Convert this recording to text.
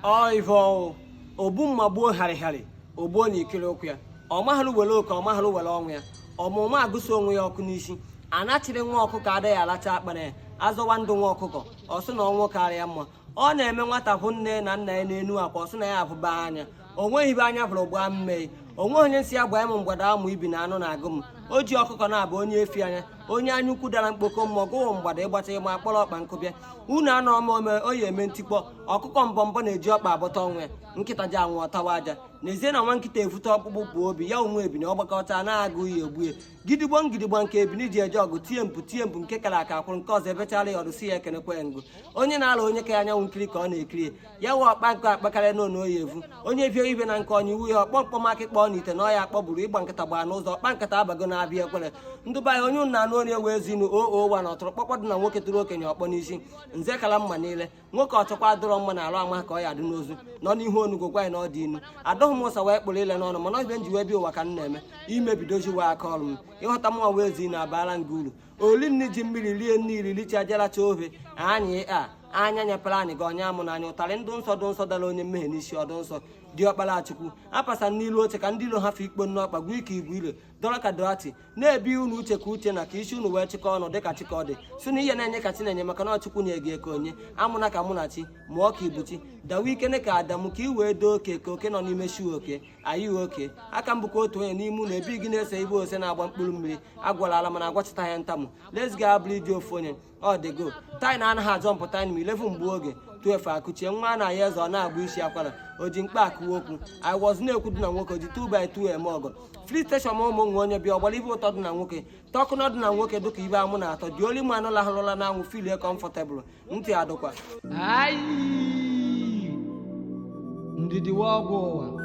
ọivọ ogbu mma gbuo harịharị o gbuo na ikiri ụkwụ ya ọ maghara were oke ọ maghara were ọnwụ ya ọmụma agụso onwe ya ọkụ n'isi anachiri nwa ọkụkọ adịghị alacha akpara ya azọwa ndụ nwa ọkụkọ ọ sị na ọnwụ kara ya mma ọ na-eme nwata hụ nne na nna ya n'enu akwa ọ sị na ya avụba anya o nweghị ive anya vụrụ gbaa mmei o nweghị onye m sị ya gbaa m mgbada amụ ibi na anụ na-agụ m o ji ọkụkọ na-abụ onye efi anya onye anya ukwu dara mkpoko mmụọ gụwụ mgbada ịgbata ịma akpọrọ ọkpa nkụbịa unu anọ m ome oyi eme ntikpọ ọkụkọ mbọ mbọ na-eji ọkpa abọta ọnwụ ya nkịta ji anwụ ọ tawa aja n'ezie na nwa nkịta evute ọkpụkpụ bụ obi ya o nwe ebini ọgbakọta na-agụ ya ogbue gidigbo ngidigbo nke ebini ji eje ọgụ tie mpụ tie mpụ nke kara aka kwụrụ nke ọzọ ebechara ya ọdụ si ya ekenekwe ngụ onye na-ala onye ka ya anyanwụ nkiri ka ọ na-ekiri ya wee ọkpa nkụ akpakarịa n'onu oyi evu onye vie ive na nke onye iwu ya ọkpọ mkpọmakị kpọọ na ite na ọya akpọ bụrụ ịgba nkịta gbaa n'ụzọ ọkpa nkịta abago na-abịa ekwere ndụba ya onye ụnụ anụ onye wee zinu oo wa na ọtụrụkpọkpọ dị na nwoke tụrụ okenye ọkpọ n'isi nze kala mma niile nwoke ọ chọkwa adọrọ mma na alụ ama ka ọ ya dị n'ozu nọ n'ihu onugwo gwa ya na ọ dị inu adọghị m ụsa wee kpụrụ ile n'ọnụ mana ọbịa m ji wee bịa ụwa ka m na-eme imebidozi wee aka ọrụ m ịghọta mụnwa wee zi na abaala nga uru oli nni ji mmiri lie nni ililicha jaracha ohe anyị anya nyepere anyị gị onye amụ n'anya ụtarị ndụ nsọ dụ nsọ dara onye mmehie n'isi ọdụ nsọ diọkpara chukwu apasa n'ilu oche ka ndị ilo ha fe ikpo nnọọ kpagbuo ike igwe ire dọrọ ka doati na-ebi unu uche ka uche na ka isi unu wee chịkọ ọnụ dịka chika dị si na ihe na-enye ka chinenye maka na ọ chukwu nye gị eke onye amụna ka mụnachi mụọ ka ibuchi dawa ike ka adamu ka i wee doo oke ka oke nọ n'ime chioke anyị oke aka m bụkwa otu onye n'ime unu ebe gị na-ese ibe ose na-agba mkpụrụ mmiri agwala ala mana agwachita ya ntamu let's go abụrụ iji ofu onye ọ dịgo tight na anaghị azọ mpụta anyị ma 11 mgbe oge 12 akụchie nwa na ya eze ọ na-agba isi akwara o ji mkpa akụwa okwu i was na-ekwu dị na nwoke ji 2 by 2 eme ọgọ filling station ụmụ nwa onye bịa ọ gbara ive ụtọ dị na nwoke tọkụnọ dị na nwoke dịka ibe amụ na atọ dị oli mmanụ lahụrụla na anwụ feelie comfortable ntị adụkwa ndidi ọgwụ ụwa